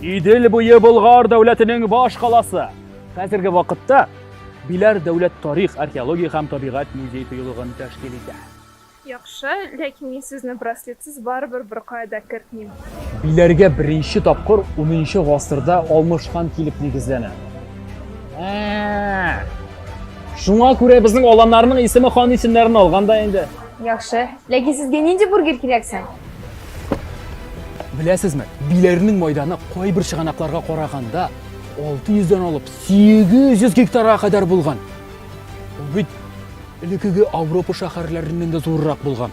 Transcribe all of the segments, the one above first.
Идел буе Болгар дәүләтенең баш каласы. Хәзерге вакытта Биләр дәүләт тарих, археология һәм табигать музей тыюлыгын тәшкил итә. Яхшы, ләкин мин сезне браслетсыз барыбер беркая да кертмим. Биләргә беренче тапкыр 10 гасырда Алмыш хан килеп нигезләнә. Шуңа күрә безнең аланнарның исеме хан исемнәрен алган да инде. Яхшы, Ләкин сезгә нинди бургер кирәк соң? Беләсезме, биләрнең майданы кайбер чыганакларга караганда 600 дән алып 800 гектарга кадәр булган. Ул бит элекеге Европа шәһәрләреннән дә зуррак булган.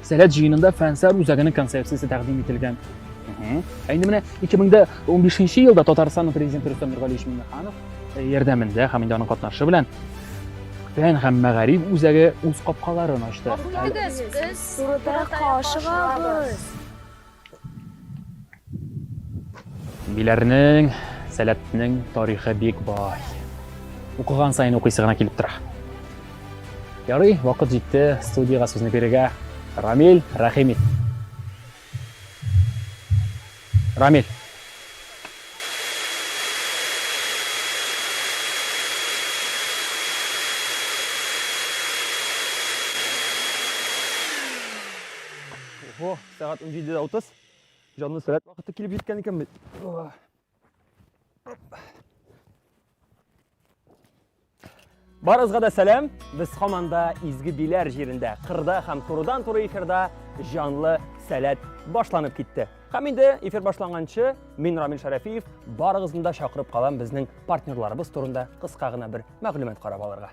Сәләт җыенында Фәнсәр үзәгенең концепциясе тәкъдим ителгән. Ә инде менә 2015 елда Татарстанның президенты Рөстәм Нургалиевич Миңнеханов э, ярдәмендә һәм инде аның катнашы белән фән һәм мәгариф үзәге үз капкаларын ачты. Гафу итегез, без турыда кашыгабыз. Биләрнең, сәләтнең тарихы бик бай. Укыган сайын укыйсы гына килеп тора. Ярый, вакыт җитте студиягә сүзне бирергә. Рамил Рәхимов. Рамиль. Ого. Сәгать 17.30. Җанны сәләт вакыты килеп җиткән икән бит. Барызга да сәлам. Без хаманда изге биләр җирендә, кырда һәм турыдан туры эфирда җанлы сәләт башланып китте. Һәм инде эфир башланганчы мин Рамил Шәрәфиев барыгызны да чакырып калам безнең партнерларыбыз турында кыска гына бер мәгълүмат карап алырга.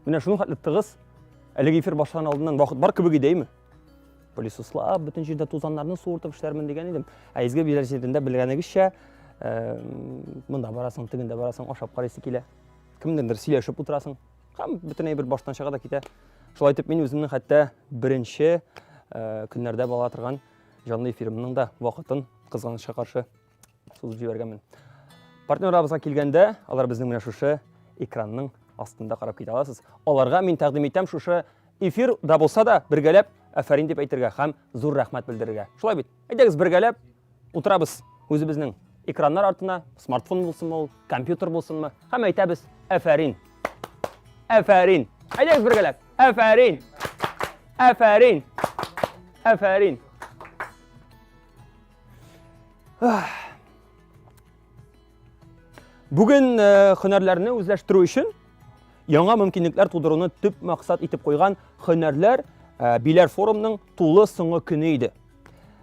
Менә шуның хәтле тыгыз. Әлеге эфир башлан алдыннан вакыт бар кебек идеме? Пылесослап, бөтен җирдә тузаннарны суыртып эшләрмен дигән идем. Ә изге биләр җирендә белгәнегезчә, монда барасың, тегендә барасың, ашап карыйсы килә. Кемнеңдер сөйләшеп утырасың. һәм бөтенләй бер баштан чыга да китә. Шулай итеп мин үземнең хәтта беренче э, көннәрдә бала торган җанлы эфирымның да вакытын кызганычка каршы сузып җибәргәнмен. Партнерларыбызга килгәндә, алар безнең менә шушы экранның астында карап китә аласыз. Аларга мин тәкъдим итәм шушы эфир да булса да бергәләп афәрин дип әйтергә һәм зур рәхмәт белдерергә. Шулай бит? Әйдәгез бергәләп утырабыз үзебезнең экраннар артына, смартфон булсынмы ул, компьютер булсынмы, һәм әйтәбез әфәрин. Әфәрин. Әйдәгез бергәләп. Әфәрин. Әфәрин. Әфәрин. Бүген э, һөнәрләрне үзләштерү өчен Яңа мөмкинлекләр тудыруны төп максат итеп куйган хөнәрләр ә, биләр форумның тулы соңгы көне иде.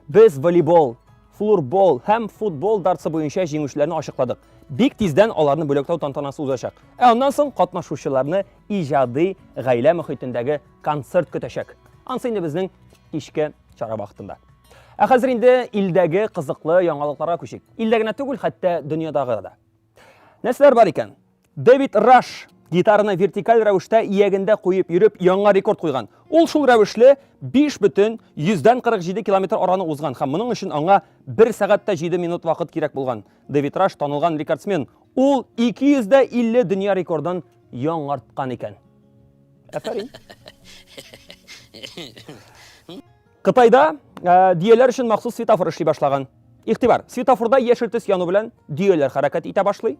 Без волейбол, флурбол һәм футбол дартсы буенча җиңүчеләрне ачыкладык. Бик тиздән аларны бүләкләү тантанасы узачак. Ә аннан соң катнашучыларны иҗади гаилә мөхитендәге концерт көтәчәк. Ансы инде безнең кичке чара вакытында. Ә хәзер инде илдәге кызыклы яңалыкларга күчик. Илдә генә түгел, хәтта дөньядагы да. Нәрсәләр бар икән? Дэвид Раш гитараны вертикаль рәвештә иягендә куеп йөреп яңа рекорд куйган. Ул шул рәвешле 5 бөтен 147 километр араны узган һәм моның өчен аңа 1 сәгать тә 7 минут вакыт кирәк булган. Дэвид Раш танылган рекордсмен. Ул 250 дөнья рекордын яңарткан икән. Афәрин. Кытайда ә, дөяләр өчен махсус светофор эшли башлаган. Игътибар, светофорда яшел төс яну белән дөяләр хәрәкәт итә башлый.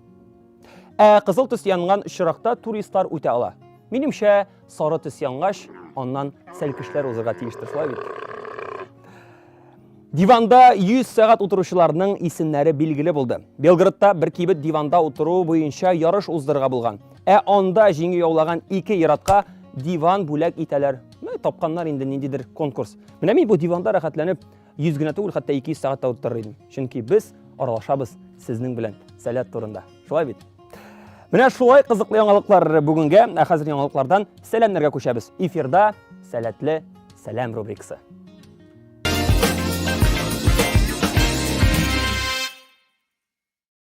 Ә кызыл төс янган очракта туристлар үтә ала. Минемчә, сары төс янгач, аннан сәлкешләр узырга тиештер, шулай бит? Диванда 100 сәгать утыручыларның исемнәре билгеле булды. Белградта бер кибет диванда утыру буенча ярыш уздырырга булган. Ә анда җиңү яулаган ике иратка диван бүләк итәләр Менә тапканнар инде ниндидер конкурс. Менә мин бу диванда рәхәтләнеп 100 генә түгел, хәтта 200 сәгать тә утырыр идем. Чөнки без аралашабыз сезнең белән сәләт турында. Шулай бит? Менә шулай кызыклы яңалыклар бүгенгә, ә хәзер яңалыклардан сәламнәргә күчәбез. Эфирда сәләтле сәлам рубрикасы.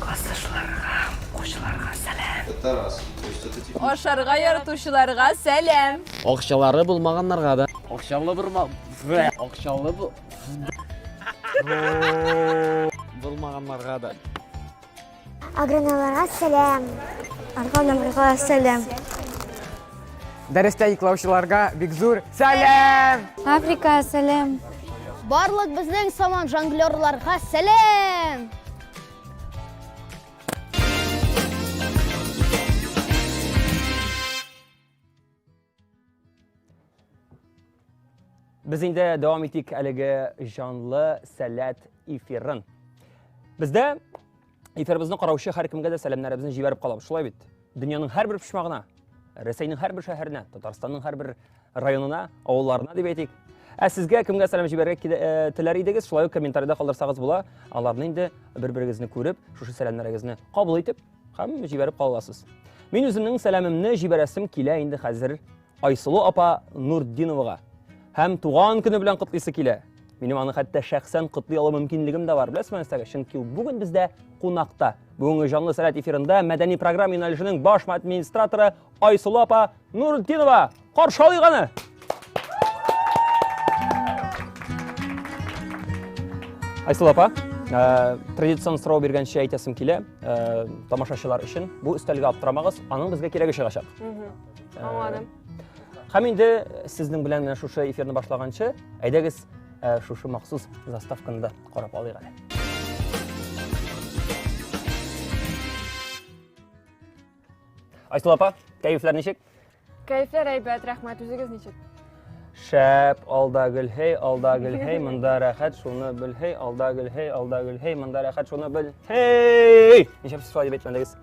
Классташларга, укучыларга сәлам. Ашарга яратучыларга сәлам. Акчалары булмаганнарга да. Акчалы булма... Акчалы бу... Булмаганнарга да. Агроналарга сәлам. Агроналарга сәлам. Дәрестә йоклаучыларга бик зур сәлам! Африка, сәлам! Барлык безнең саман жонглерларга сәлам! Без инде дәвам итик әлеге җанлы сәләт эфирын. Бездә Эфирыбызны караучы һәркемгә дә сәламнәребезне җибәреп калабыз. Шулай бит. Дөньяның һәрбер почмагына, Рәсәйнең һәрбер шәһәренә, Татарстанның һәрбер районына, авылларына дип әйтик. Ә сезгә кемгә сәлам җибәрергә килә- э, теләр идегез, шулай ук комментариядә калдырсагыз була. Аларны инде бер-берегезне күреп, шушы сәламнәрегезне кабул итеп һәм җибәреп кала аласыз. Мин үземнең сәламемне җибәрәсем килә инде хәзер. Айсылу апа Нуртдиновага һәм туган көне белән котлыйсы килә. Минем аны хәтта шәхсән котлый алу мөмкинлегем дә бар, беләсезме нәрсәгә? Чөнки ул бүген бездә кунакта. Бүгенге җанлы сәләт эфирында мәдәни программа юнәлешенең баш администраторы Айсылу апа Нуртдинова. Каршы алыйк аны! Айсылу апа, Э, традицион сорау биргәнчә әйтәсем килә э, тамашачылар өчен бу өстәлгә аптырамагыз аның безгә кирәге чыгачак Аңладым. Һәм инде сезнең белән менә шушы эфирны башлаганчы, әйдәгез э, шушы махсус заставканы да карап алыйк әле. Айсыл апа, кәефләр ничек? Кәефләр әйбәт, рәхмәт, үзегез ничек? Шәп, алда гөлһей, алда гөлһей, монда рәхәт, шуны белһей, алда гөлһей, алда гөлһей, монда рәхәт, шуны белһей! Ничек сез шулай дип әйтмәдегез?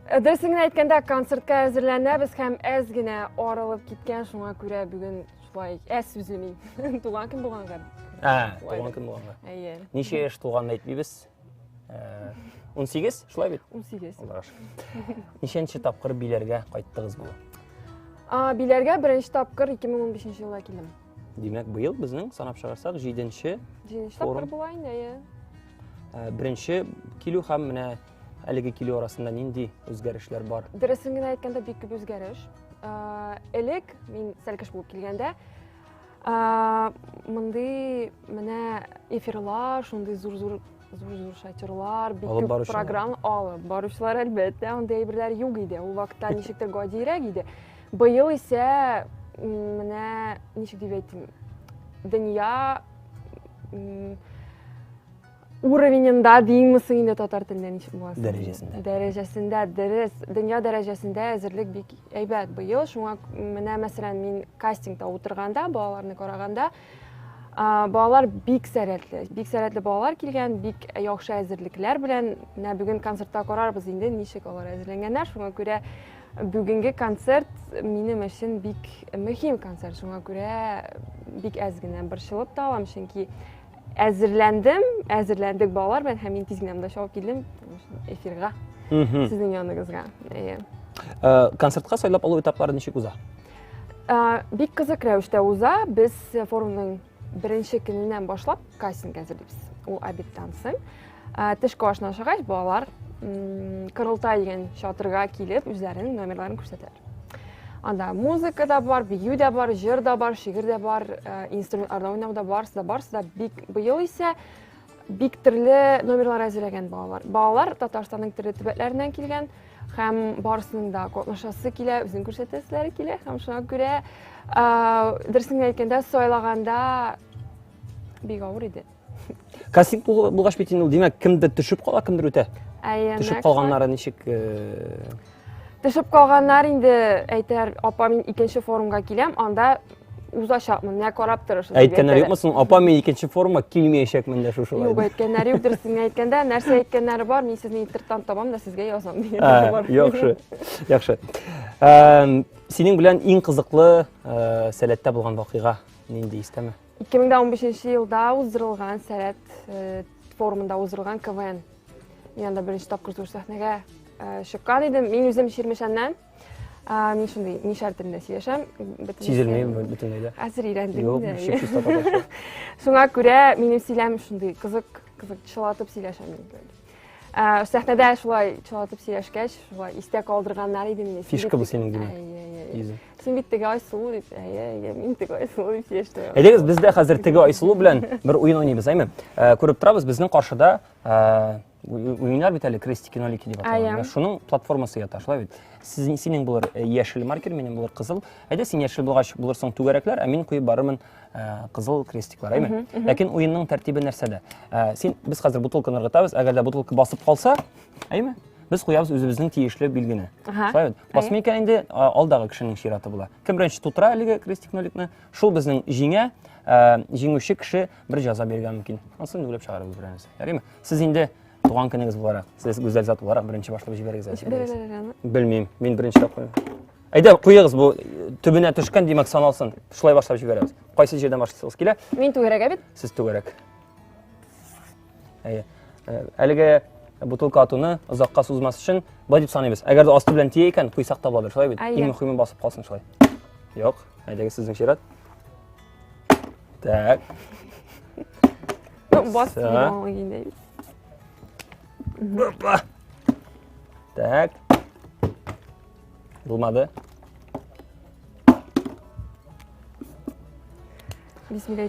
Э, дөресен генә әйткәндә, концертка әзерләнәбез һәм әз генә арылып киткән, шуңа күрә бүген шулай әз сүзлеми. Туган көн булганга. Ә, туган көн булганга. Әйе. Ничә яшь туганын әйтмибез. 18, э, шулай бит? 18. Аллага шөкер. Ничәнче тапкыр биләргә кайттыгыз бу? А, биләргә беренче тапкыр 2015 елда килдем. Димәк, быел безнең санап чыгарсак 7-нче тапкыр була инде, әйе. Ә, Беренче килү һәм менә әлеге килү арасында нинди үзгәрешләр бар? Дөресен генә әйткәндә, бик күп үзгәреш. Ә, Элек мин сәлкеш булып килгәндә, ә, мондый менә эфирлар, шундый зур-зур зур-зур шатерлар, бик Алып күп баручылар. программ алып баручылар, әлбәттә, андый әйберләр юк иде. Ул вакытта ничектер гадиерәк иде. Быел исә менә ничек дип әйтим, дөнья уровененда деймме соң инде татар телендә ничек була соң? Дәрәҗәсендә. Дәрәҗәсендә, дөрес. Дөнья дәрәҗәсендә әзерлек бик әйбәт быел. Шуңа менә мәсәлән мин кастингта утырганда, балаларны караганда, балалар бик сәләтле бик сәләтле балалар килгән бик яхшы әзерлекләр белән менә бүген концертта карарбыз инде ничек алар әзерләнгәннәр шуңа күрә бүгенге концерт минем өчен бик мөһим концерт шуңа күрә бик әз генә борчылып та алам чөнки әзерләндем әзерләндек балалар белән һәм мин тиз генә монда чабып килдем эфирга сезнең яныңызга концертка сайлап алу этаплары ничек уза Бик кызык рәвештә уза. Без форумның беренче көненнән башлап кастинг әзерлибез. Ул обедтан соң. Тышкы ашына ашагач, балалар Кырылтай дигән чатырга килеп, үзләренең номерларын күрсәтәләр. Анда музыка да бар, бию дә бар, җыр да бар, шигырь дә бар, инструментларда уйнау да барысы да барысы да бик быел исә Бик төрле номерлар әзерләгән балалар. Балалар Татарстанның төрле төбәкләреннән килгән һәм барысының да катнашасы килә, үзен күрсәтәселәре килә һәм шуңа күрә дөресен әйткәндә сайлаганда бик авыр иде. Кастинг булгач бит инде ул, димәк, кемдер төшеп кала, кемдер үтә. Төшеп калганнары ничек? Төшеп калганнар инде, әйтәр, апа, мин икенче форумга киләм, анда узачакмын, менә карап торыш. Әйткәннәр юкмы соң, апа, мин икенче форумга килмәячәкмен дә шушылай. Юк, әйткәннәр юк, дөресен генә әйткәндә, нәрсә әйткәннәре бар, мин сезне интернеттан табам да сезгә язам дигәннәре бар. Яхшы, яхшы. Синең белән иң кызыклы сәләттә булган вакыйга нинди истәме? 2015 елда уздырылган сәләт форумында уздырылган КВН Мин анда беренче тапкыр зур сәхнәгә э, чыккан идем. Мин үзем Чирмешәннән. Ә, мин шундый мишәр телендә сөйләшәм. Сизелми бөтенләй дә. Хәзер өйрәндем инде. Шуңа күрә минем сөйләм шундый кызык, кызык чылатып сөйләшәм инде. Ә, сәхнәдә шулай чылатып сөйләшкәч, шулай истә калдырганнар иде мине. Фишка бу синең димәк. Син бит теге Айсылу дип. Әйе, әйе, мин теге Айсылу дип сөйләштем. Әйдәгез, без дә хәзер теге Айсылу белән бер уен уйныйбыз, әйме? Э, күреп торабыз, безнең каршыда э, уеннар бит әле крестики нолики дип аталган. Шуның платформасы ята, шулай бит. Синең синең булыр э, яшел маркер, минем булыр кызыл. Әйдә син яшел булгач булырсың түгәрәкләр, ә мин куеп барырмын э, кызыл крестиклар, әйме? Ләкин уенның тәртибе нәрсәдә? Э, син без хәзер бутылканы ыргытабыз, әгәр дә бутылка басып калса, әйме? Без куябыз үзебезнең тиешле билгене. Шулай бит. Космика инде алдагы кешенең чираты була. Кем беренче тутыра әлеге крестик ноликны, шул безнең җиңә, җиңүче кеше бер җаза бирергә мөмкин. Ансын инде уйлап чыгарабыз берәрсе. Ярыймы? Сез инде туган көнегез буларак, сез гүзәл зат буларак беренче башлап җибәрегез әле. Белмим, мин беренче тапкыр. Әйдә, куегыз бу төбенә төшкән, димәк, саналсын. Шулай башлап җибәрәбез. Кайсы җирдән башласагыз килә? Мин түгәрәк бит. Сез түгәрәк. Әйе. Э, әлеге бутылка атуны озакка сузмас өчен былай дип саныйбыз. Әгәр дә асты белән тия икән, куйсак та буладыр, шулай бит? Иң мөһиме басып калсын шулай. Юк, әйдәгез сезнең чират. Так. Ну, бас Опа. Так. Булмады. Бисмилла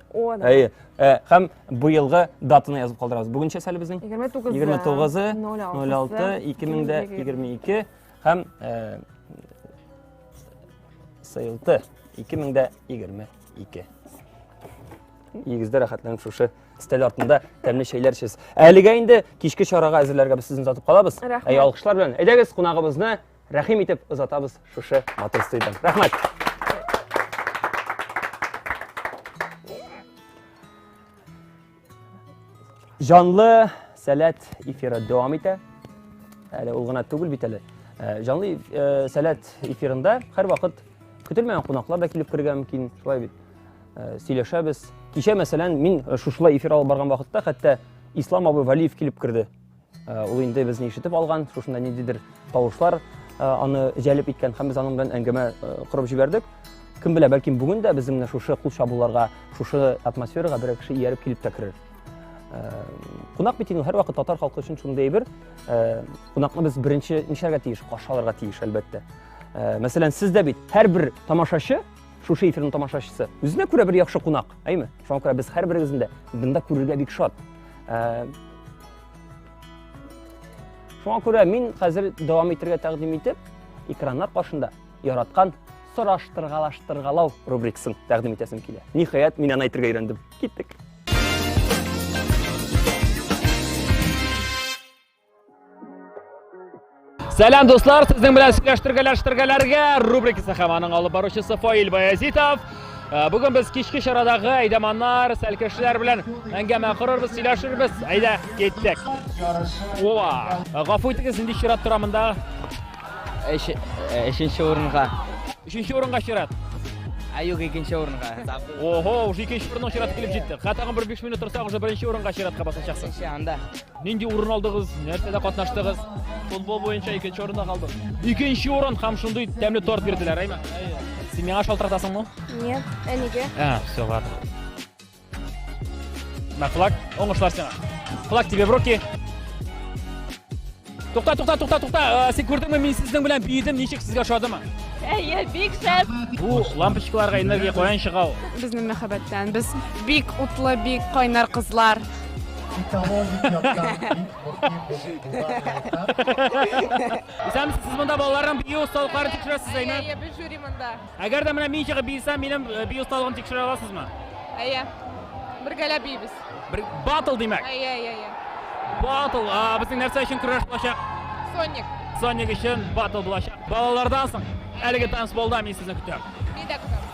О, да. Әйе. Ә, һәм быелгы датаны язып калдырабыз. Бүгенчә әле безнең 29 29 06 2022 һәм ә, сыйылты 2022. Игездә рәхәтләнеп шушы стәл артында тәмле чәйләр эчәсез. Әлегә инде кичке чарага әзерләргә без сезне озатып калабыз. Рәхмәт. Әй, алкышлар белән. Әйдәгез, кунагыбызны Рәхим итеп озатабыз шушы матур студияне. Рәхмәт. Җанлы сәләт эфиры дәвам итә. Әле ул гына түгел бит әле. Э, Җанлы э, сәләт эфирында һәр вакыт көтелмәгән кунаклар да килеп керергә мөмкин. Шулай бит. Э, сөйләшәбез. Кичә мәсәлән, мин шушылай эфир алып барган вакытта хәтта Ислам абый Валиев килеп керде. Э, ул инде безне ишетеп алган, шушында ниндидер тавышлар э, аны җәлеп иткән һәм без аның белән әңгәмә э, корып җибәрдек. Кем белә, бәлки бүген дә безнең менә шушы кул чабуларга, шушы атмосферага бер кеше ияреп килеп тә керер. Кунак бит инде һәрвакыт татар халкы өчен шундый әйбер. Кунакны без беренче нишәргә тиеш, каршы алырга тиеш, әлбәттә. Мәсәлән, сез дә бит һәрбер тамашачы Шушы эфирның тамашачысы. Үзенә күрә бер яхшы кунак, әйме? Шуңа күрә без һәрберегезне дә бында күрергә бик шат. Ә, Шуңа күрә мин хәзер дәвам итергә тәкъдим итеп, экраннар каршында яраткан сораштыргалаштыргалау рубрикасын тәкъдим итәсем килә. Ниһаять, мин аны әйтергә өйрәндем. Киттек. Сәлам дуслар, сезнең белән сөйләштергәләштергәләргә рубрикасы һәм аның алып баручысы Фаил Баязитов. Э, Бүген без кичке чарадагы әйдәманнар, сәлкешләр белән әңгәмә корырбыз, сөйләшербез. Әйдә, киттек. Ова! Э, гафу итегез, инде чират тора монда. Өченче э, урынга. Өченче урынга чират. Ә юк, икенче урынга. Ого, уже икенче урынның чираты килеп җитте. Хәтта бер 5 минут торсак, уже беренче урынга чиратка басачаксың. Анда. Нинди урын алдыгыз, нәрсәдә катнаштыгыз? Футбол буенча икенче урында калдык. Икенче урын һәм шундый тәмле торт бирделәр, әйме? Син миңа шалтыратасыңмы? Нет, әнигә. А, все, ладно. На флаг, оңышлар сиңа. Флаг тебе в руки. Тукта, тукта, тукта, тукта. Э, син күрдеңме, мин сезнең белән биедем, ничек сезгә ошадымы? Әйе, бик шәп. Бу лампочкаларга энергия каян чыга ул? Безнең мәхәббәттән. Без бик утлы, бик кайнар кызлар. Исәнмесез, сез монда балаларның бию осталыкларын тикшерәсез, әйме? Әйе, без жюри монда. Әгәр дә менә мин чыгып биесәм, минем э, бию осталыгын тикшерә аласызмы? Әйе. Бергәләп биебез. Бер батл димәк. Әйе, әйе, әйе. Батл, безнең нәрсә өчен көрәш булачак? Соник. Соник өчен батл булачак. Балалардан соң әлеге танцполда мин сезне көтәм. Мин дә көтәм.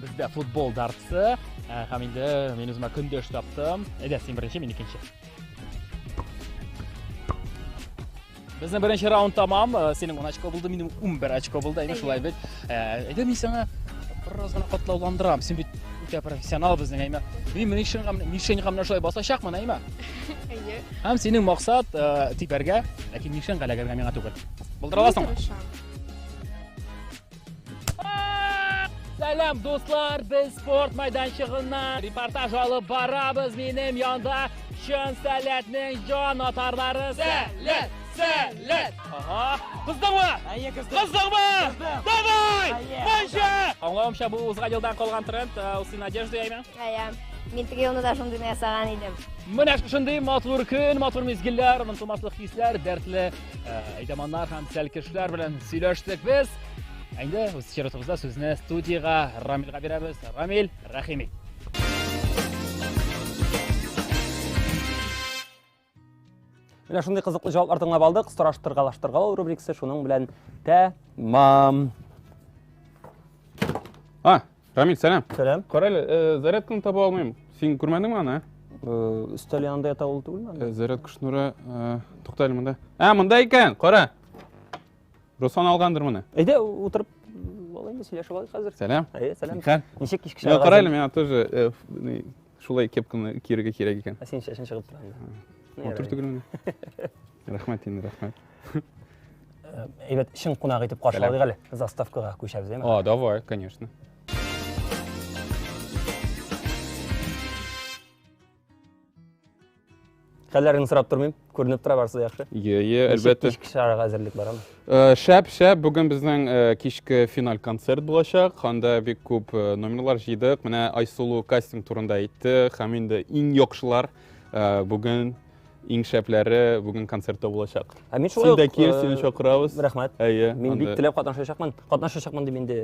Бездә футбол дартсы э, һәм инде мин үземә көндәш таптым. Әйдә, син беренче, мин икенче. Безнең беренче раунд тамам. Э, синең 10 очко булды, минем 11 очко булды. Әйдә, шулай бит. Э, әйдә, мин сиңа бераз гына катлауландырам. Син бит үтә профессионал безнең, әйме. Мин минем шуңга минем шуңга менә шулай басачакмын, әйме. Әйе. Һәм синең максат тибәргә, ләкин минем шуңга ләгәргә миңа түгел. Булдыра аласыңмы? Сәлам, дуслар, без спорт майданчыгыннан репортаж алып барабыз. Минем янда чын сәләтнең җан атарлары. Сәләт, сәләт! Ага, кыздыңмы? Әйе, кыздым. Кыздыңмы? Кыздым. Давай! Әйе. Манча! Аңлавымча, бу узган елдан калган тренд, э, ул син одежда яйме? Әйе. Мин теге елны да шундыйны ясаган идем. Менә шундый матур көн, матур мизгелләр, онытылмаслык хисләр, дәртле Ә, әйдәманнар һәм тәлкешләр белән сөйләштек без. Әйдә, үз чиротыбызда сүзне студиягә Рамилгә бирәбез. Рамил, рәхим Менә шундый кызыклы җаваплар тыңлап алдык. Сораштыргалаштыргалау рубрикасы шуның белән тәмам. А, Рамиль, сәлам. Сәлам. Кара әле, э, зарядканы таба алмыйм. Син күрмәдеңме аны? ә? Э, Өстәл янында ята ул түгелме? Э, Зарядка шнуры, э, тукта әле монда. А, монда икән, кара. Руслан алгандыр моны. Әйдә, утырып алайын да сөйләшеп алайык хәзер. Сәлам. Әйе, сәлам. Нихәл? Э, Ничек кичке Я, чагы? кара әле, миңа тоже э, ф- ни, шулай кепканы киергә кирәк икән. Ә син чәчен чыгып тора. Матур түгелме? Рәхмәт инде, рәхмәт. Әйбәт, чын кунак итеп каршыладык әле. Заставкага күчәбез, әйме? А, давай, конечно. Хәлләрен сорап тормыйм. Күренеп тора барсы яхшы. Йе, йе, әлбәттә. Кичке чарага әзерлек барамы? Э, шәп, шәп. Бүген безнең э, кичке финаль концерт булачак. Анда бик күп э, номерлар җыйдык. Менә Айсулу кастинг турында әйтте. Һәм инде иң яхшылар бүген Иң шәпләре бүген концертта булачак. Ә мин шулай Син дә кил, сине чакырабыз. Рәхмәт. Әйе. Мин бик теләп катнашачакмын. Катнашачакмын дип инде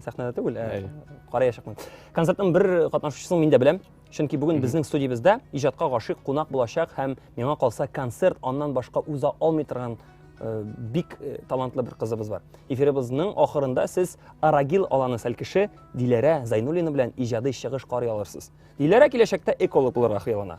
сәхнәдә түгел, ә караячакмын. Концертның бер катнашучысын мин дә беләм. Чөнки бүген безнең студиябездә иҗатка гашыйк кунак булачак һәм миңа калса концерт аннан башка уза алмый торган Э, бик э, талантлы бер кызыбыз бар. Эфирыбызның ахырында сез Арагил аланы сәлкеше Диләрә Зайнуллина белән иҗади чыгыш карый алырсыз. Диләрә киләчәктә эколог булырга хыяллана.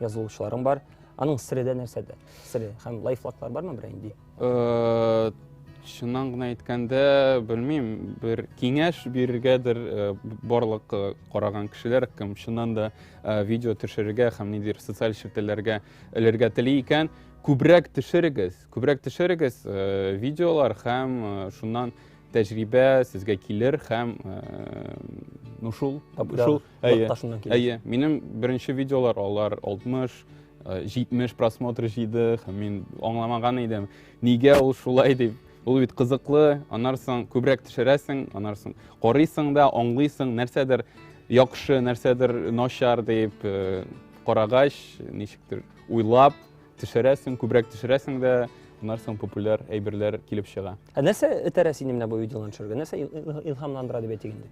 язылучыларың бар аның сире дә нәрсәдә сире һәм лайфлаклар бармы берәй инде э, чыннан гына әйткәндә белмим бер киңәш бирергәдер э, барлык э, караган кешеләр кем чыннан да видео төшерергә һәм ниндидер социаль челтәрләргә элергә тели икән күбрәк төшерегез күбрәк төшерегез видеолар һәм шуннан тәҗрибә сезгә килер һәм ну шул шул Әйе, әйе. Минем беренче видеолар алар 60, 70 э, просмотр җыйды һәм мин аңламаган идем, нигә ул шулай дип. Ул бит кызыклы, аннан соң күбрәк төшерәсең, аннан соң карыйсың да, аңлыйсың, нәрсәдер яхшы, нәрсәдер начар дип э, карагач, ничектер уйлап төшерәсең, күбрәк төшерәсең дә, аннан соң популяр әйберләр килеп чыга. Ә нәрсә этәрә сине менә бу видеоларны төшерергә? Нәрсә илһамландыра дип әйтик инде?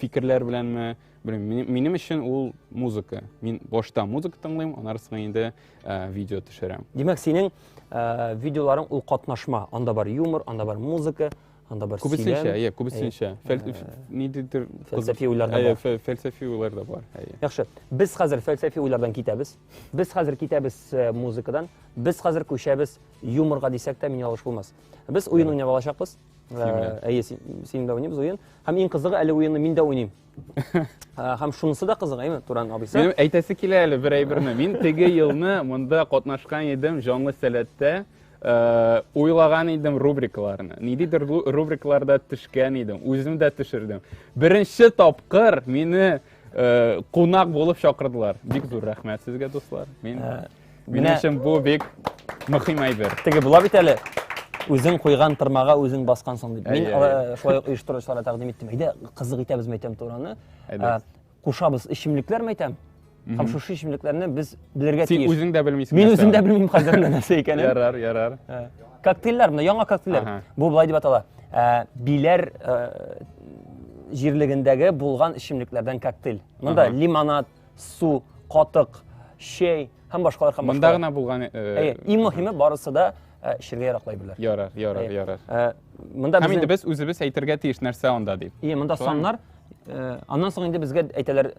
фикерләр беләнме белмим минем өчен ул музыка мин башта музыка тыңлыйм аннары соң инде э, видео төшерәм димәк синең э, видеоларың ул катнашма анда бар юмор анда бар музыка анда бар күбесенчә иә күбесенчә э, ниндидер фәлсәфи уйлар да бар фәлсәфи уйлар да бар яхшы без хәзер фәлсәфи уйлардан китәбез без хәзер китәбез музыкадан без хәзер күчәбез юморга дисәк тә мин ялгыш булмас без уен уйнап алачакбыз Әйе, син дә уйныйбыз уен. Һәм иң кызыгы әле уенны мин дә уйныйм. Һәм шунысы да кызык, әйме, Туран абыйсы? Минем әйтәсе килә әле бер әйберне. Мин теге елны монда катнашкан идем җанлы сәләттә. Э, уйлаган идем рубрикаларны. Ниндидер рубрикаларда төшкән идем, үзем дә төшердем. Беренче тапкыр мине э, кунак булып чакырдылар. Бик зур рәхмәт сезгә, дуслар. Мин э, Минем өчен бу бик мөһим әйбер. Теге була бит әле. Үзең куйган тырмага үзең баскансың дип. Мин э, шулай ук оештыручыларга тәкъдим иттем. Әйдә, кызык итәбез мәйтәм тураны. Э, кушабыз эчемлекләр мәйтәм. Һәм шушы эчемлекләрне без белергә тиеш. Син үзең дә белмисең. Мин үзем дә белмим хәзер менә нәрсә икәнен. Ярар, ярар. Э, коктейльләр менә яңа коктейльләр. Бу былай дип атала. Биләр җирлегендәге булган эчемлекләрдән коктейль. Монда лимонад, су катык чәй һәм башкалар һәм монда гына булган э, иң мөһиме барысы да э, эчергә яраклай белә ярар ярар ярар э, монда һәм инде без үзебез әйтергә тиеш нәрсә анда дип и монда саннар аннан соң инде безгә әйтәләр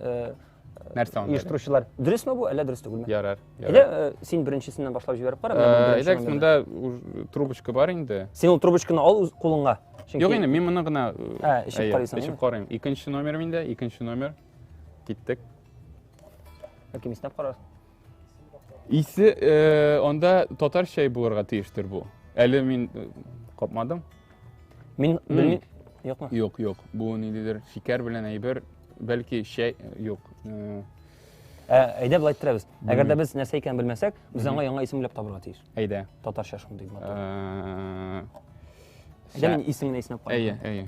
нәрсә анда оештыручылар дөресме бу әллә дөрес түгелме ярар әллә син беренчесеннән башлап җибәреп кара әйдәгез монда трубочка бар инде син ул трубочканы ал кулыңа Чөнки... Юк инде, мин моны гына эчеп карыйсың. Эчеп карыйм. Икенче номер миндә, икенче номер. Киттек. Бәлки мистап карар. Исе э, анда татар чәй булырга тиештер бу. Әле мин э, капмадым. Мин белмим. Юкмы? Юк, юк. Бу ниндидер шикәр белән әйбер, бәлки чәй э, юк. Э, Ә, әйдә былай иттерәбез. Әгәр дә без нәрсә икәнен белмәсәк, без аңа яңа исем уйлап табырга тиеш. Әйдә. Татарча шундый матур. Э, Әйдә мин исемен исенеп карыйм. Әйе, әйе.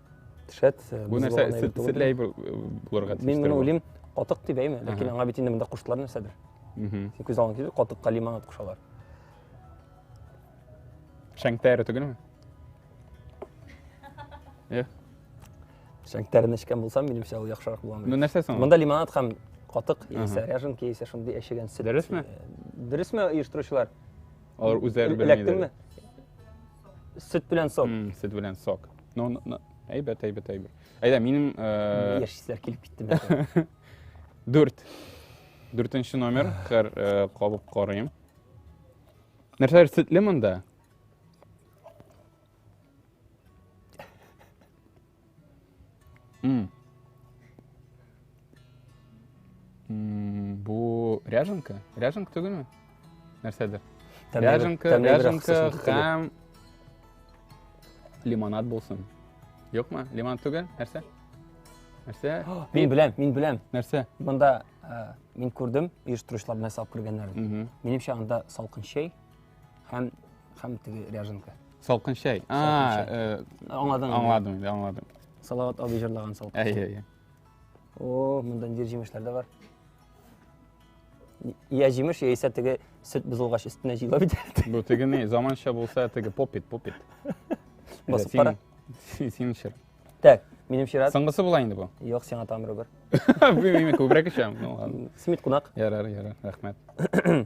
шәт бу нәрсә сетләй булырга тиеш мин моны уйлыйм катык дип әйме ләкин аңа бит инде монда куштылар нәрсәдер син күз алдыңа килде катыкка лимон атып кушалар шәңтәре түгелме иә шәңтәрен эчкән булсам минемчә ул яхшырак булган ну нәрсә соң монда лимонад һәм катык яисә ряженка яисә шундый әчегән сөт дөресме дөресме оештыручылар алар үзләре белмиләр эләктеңме Сөт белән сок. М, Сөт белән сок. Ну, ну, ну, әйбәт, әйбәт, әйбәт. Әйдә, минем э, Яшь исләр килеп китте. бәлкем. дүрт. Дүртенче номер. Хәр э, кабып карыйм. Нәрсәләр сөтле монда? М. М, Бу ряженка? Ряженка түгелме? Нәрсәдер. Тәмлегрәк- Ряженка, тәмлегрәк ряженка кысасың түгел. һәм лимонад булсын. Юкмы? Лимонад түгел? Нәрсә? Нәрсә? Мин Пип, беләм, мин беләм. Нәрсә? Монда э, мин күрдем, оештыручылар нәрсә алып кергәннәрен. Мгм. Минемчә анда салкын чәй, Һәм һәм теге ряженка. Салкын чәй. А, э, аңладың. Аңладым, инде, аңладым. Салават абый җырлаган салкын. Әйе, әйе. О, монда нидер җимешләр дә бар. Я җимеш, я исә теге сөт бозылгач өстенә җыела бит. Бу теге ни, заманча булса теге попит, попит. Басып кара. Син чыр. Так, минем чират. Соңгысы була инде бу. Юк, сиңа тамыры бар. Бу мин күбрәк ичәм. Ну ладно. Смит кунак. Ярар, ярар, рәхмәт.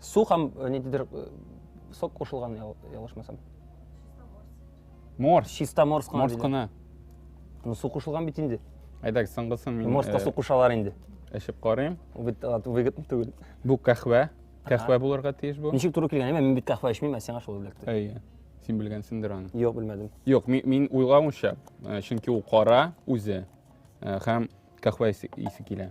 су һәм э, ниндидер э, сок кушылган ялгышмасам морс чиста морс кына морс кына ну су кушылган бит инде әйдәгез соңгысын мин морска э, су кушалар инде эчеп карыйм бит выгодно түгел бу кәхвә кәхвә булырга тиеш бу ничек туры килгән мин бит кәхвә эчмим ә сиңа шул эләкте әйе син белгәнсеңдер аны юк белмәдем юк мин уйлавымча чөнки ул кара үзе һәм кәхвә исе килә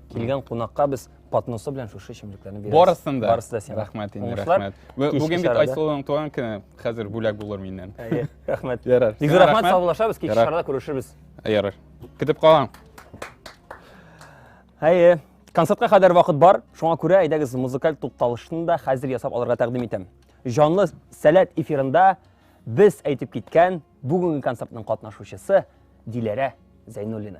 Килгән кунакка без подносы белән шушы эчемлекләрне бирәбез. Барысын да. Барысы да сиңа. Рәхмәт инде, Уңышлар. рәхмәт. Бу- Кичке Бүген бит чарада. Айсылуның туган көне. Хәзер бүләк булыр миннән. Әйе, Рәхмәт. Ярар. Бик зур Сиңа рәхмәт, саубуллашабыз, кичке Ярар. чарада күрешербез. Ярар. Көтеп калам. Әйе, концертка кадәр вакыт бар, шуңа күрә әйдәгез музыкаль тукталышны да хәзер ясап алырга тәкъдим итәм. Җанлы сәләт эфирында без әйтеп киткән бүгенге концертның катнашучысы Диләрә Зәйнуллина.